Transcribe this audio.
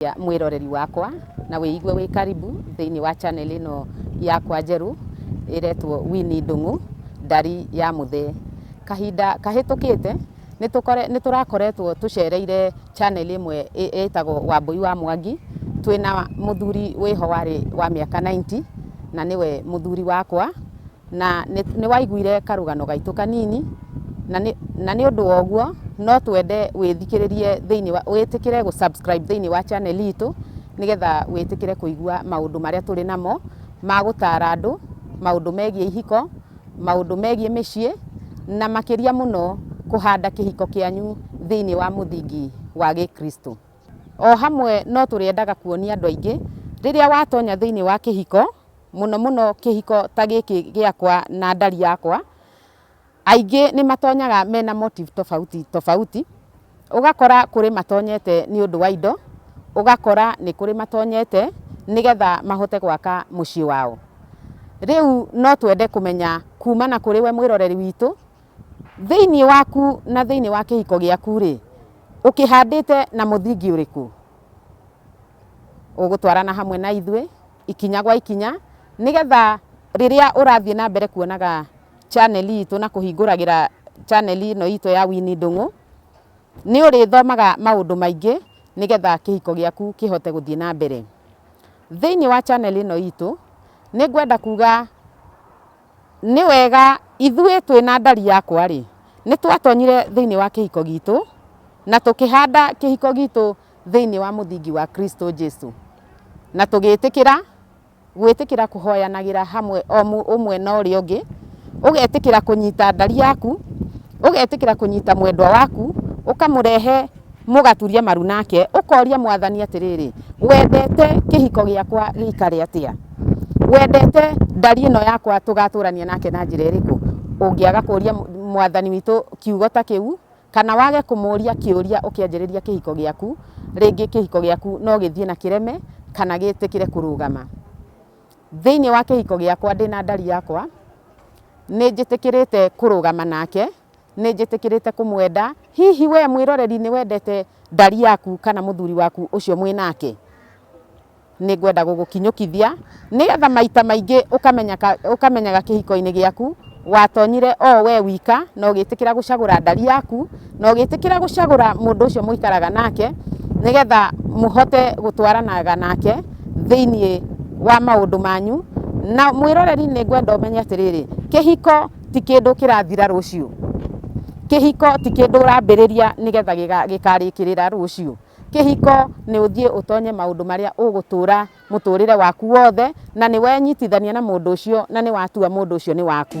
Cia mwĩroreri wakwa na wĩigue wĩ karibu thĩinĩ wa channel ĩno yakwa njerũ ĩretwo Winnie Ndung'u ndari ya mũthee. Kahinda kahĩtũkĩte nĩ tũrakoretwo tũcereire channel ĩmwe ĩtagwo Wambũi wa Mwangi twĩna mũthuri wĩho warĩ wa mĩaka ninety na nĩwe mũthuri wakwa. na nĩ waiguire karũgano gaitũ kanini, na nĩ na nĩ ũndũ woguo no twende wĩthikĩrĩrie thĩinĩ wa wĩtĩkĩre gũ subscribe thĩinĩ wa channel itũ, nĩgetha wĩtĩkĩre kũigua maũndũ marĩa tũrĩ namo ma gũtara andũ, maũndũ megiĩ ihiko, maũndũ megiĩ mĩciĩ, na makĩria mũno kũhanda kĩhiko kĩanyu thĩinĩ wa mũthingi wa gĩkristo. O hamwe no tũrĩendaga kuonia andũ aingĩ rĩrĩa watonya thĩinĩ wa kĩhiko, mũno mũno kĩhiko ta gĩkĩ gĩakwa na ndari yakwa, aingĩ nĩ matonyaga mena motive tofauti tofauti, ũgakora kũrĩ matonyete nĩ ũndũ wa indo, ũgakora nĩ kũrĩ matonyete nĩgetha mahote gwaka mũciĩ wao. Rĩu no twende kũmenya kumana kũrĩ we mwĩroreri witũ, thĩiniĩ waku na thĩiniĩ wa kĩhiko gĩaku rĩ, ũkĩhandĩte na mũthingi ũrĩkũ? Ũgũtwarana hamwe na ithuĩ. ikinya gwa ikinya nĩgetha rĩrĩa ũrathiĩ na mbere kuonaga channel itũ na kũhingũragĩra channel ĩno itũ ya Winnie Ndung'u nĩ ũrĩthomaga maũndũ maingĩ nĩgetha kĩhiko gĩaku kĩhote gũthiĩ na mbere. Thĩinĩ wa channel ĩno itũ nĩ ngwenda kuga nĩ wega ithuĩ twĩ na ndari yakwa rĩ, nĩ twatonyire thĩinĩ wa kĩhiko gitũ na tũkĩhanda kĩhiko gitũ thĩinĩ wa mũthingi wa Kristo Jesu. Na tũgĩtĩkĩra, gwĩtĩkĩra kũhoyanagĩra hamwe o mũ- ũmwe na ũrĩa ũngĩ, ũgetĩkĩra kũnyita ndari yaku, ũgetĩkĩra kũnyita mwendwa waku, ũkamũrehe mũgaturia maru nake, ũkoria mwathani atĩrĩrĩ, wendete kĩhiko gĩakwa gĩikare atĩa? wendete ndari ĩno yakwa tũgatũrania nake na njĩra ĩrĩkũ? Ũngĩaga kũria mwathani witũ kiugo ta kĩu, Kana wage kũmũũria kĩũria ũkĩanjĩrĩria kĩhiko gĩaku, rĩngĩ kĩhiko gĩaku no gĩthiĩ na kĩreme kana gĩtĩkĩre kũrũgama. Thĩinĩ wa kĩhiko gĩakwa ndĩ na ndari yakwa, nĩ njĩtĩkĩrĩte kũrũgama nake, nĩ njĩtĩkĩrĩte kũmwenda. Hihi we mwĩroreri nĩ wendete ndari yaku kana mũthuri waku ũcio mwĩ nake? Nĩ ngwenda gũgũkinyũkithia nĩgetha maita maingĩ ũkamenyaga kĩhiko-inĩ gĩaku watonyire o we wika na ũgĩtĩkĩra gũcagũra ndari yaku na ũgĩtĩkĩra gũcagũra mũndũ ũcio mũikaraga nake nĩgetha mũhote gũtwaranaga nake thĩinĩ wa maũndũ manyu. Na mwĩroreri nĩ ngwenda ũmenye atĩrĩrĩ, kĩhiko ti kĩndũ kĩrathira rũciũ, kĩhiko ti kĩndũ ũrambĩrĩria nĩgetha gĩkarĩkĩrĩra rũciũ. Kĩhiko nĩ ũthiĩ ũtonye maũndũ marĩa ũgũtũũra mũtũũrĩre waku wothe, na nĩ wenyitithania na mũndũ ũcio na nĩ watua mũndũ ũcio nĩ waku.